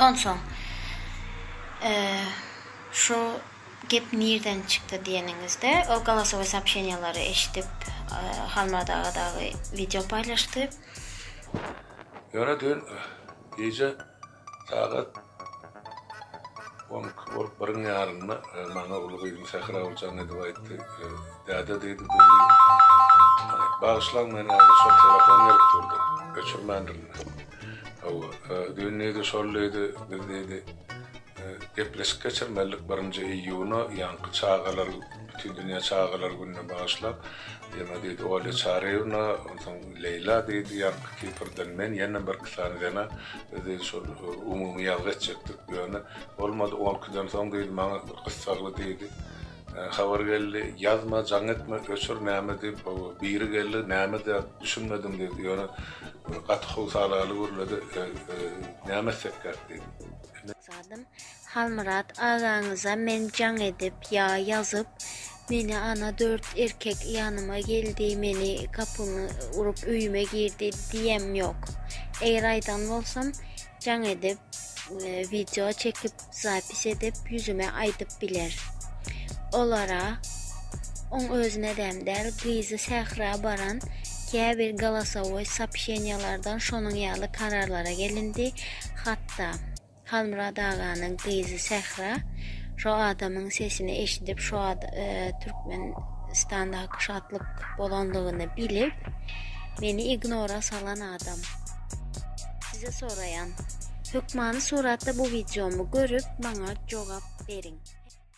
Onsoň, şu gep nirden çykdy diýeniňizde, ol golosowoý soobşeniýalary eşidip, Halmyrat aga dagy wideo paýlaşdy. Ýöne düýn gije sagat on iki bolup biriň ýarynda maňa uly gyzym Sähra Oguljan edip aýtdy. Däde diýdi, bizi bagyşlaň, men häzir şol telefon gelip durdy, öçürmändirin. Hawa, düýn diýdi şol diýdi, biz diýdi, gepleşik geçirmelidik birinji iýuna, ýaňky çagalar, Bütindünýä çagalar gününe bagyşlap, ýene diýdi Olýa Çaryýewna, onsoň Leýla diýdi, ýaňky Kiprden men, ýene birki sany zena, biz diýdi şol umumy ýazgy etjekdik, ýöne bolmady, on ikiden soň diýdi, maňa gyssagly diýdi. Habar geldi, ýazma, jaň etme, öçür, näme diýip, hawa, biri geldi, näme zat, düşünmedim diýdi, ýöne gaty howsalaly gürledi, Näme etsek gerk diýdi. Zadym, Halmyrat agaňyza men jaň edip ýa ýazyp, meni ana dört erkek ýanyma geldi, meni gapymy urup öýüme girdi diýemem ýok. Eger aýdan bolsam, Jaň edip video çekip zapis edip ýüzüme aýdyp biler. Olara oň özüne däm däl gyzy sähra baran käbir galasowoý sapşeniýalardan şonuň ýaly kararlara gelindi hatda Halmyrat aganyň gyzy sähra şo adamyň sesini eşidip şo Türkmenistanda şatlyk bolanlygyny bilip meni ignora salan adam. Size soraýan. Hökmany suratda bu wideomy görüp maňa jogap beriň.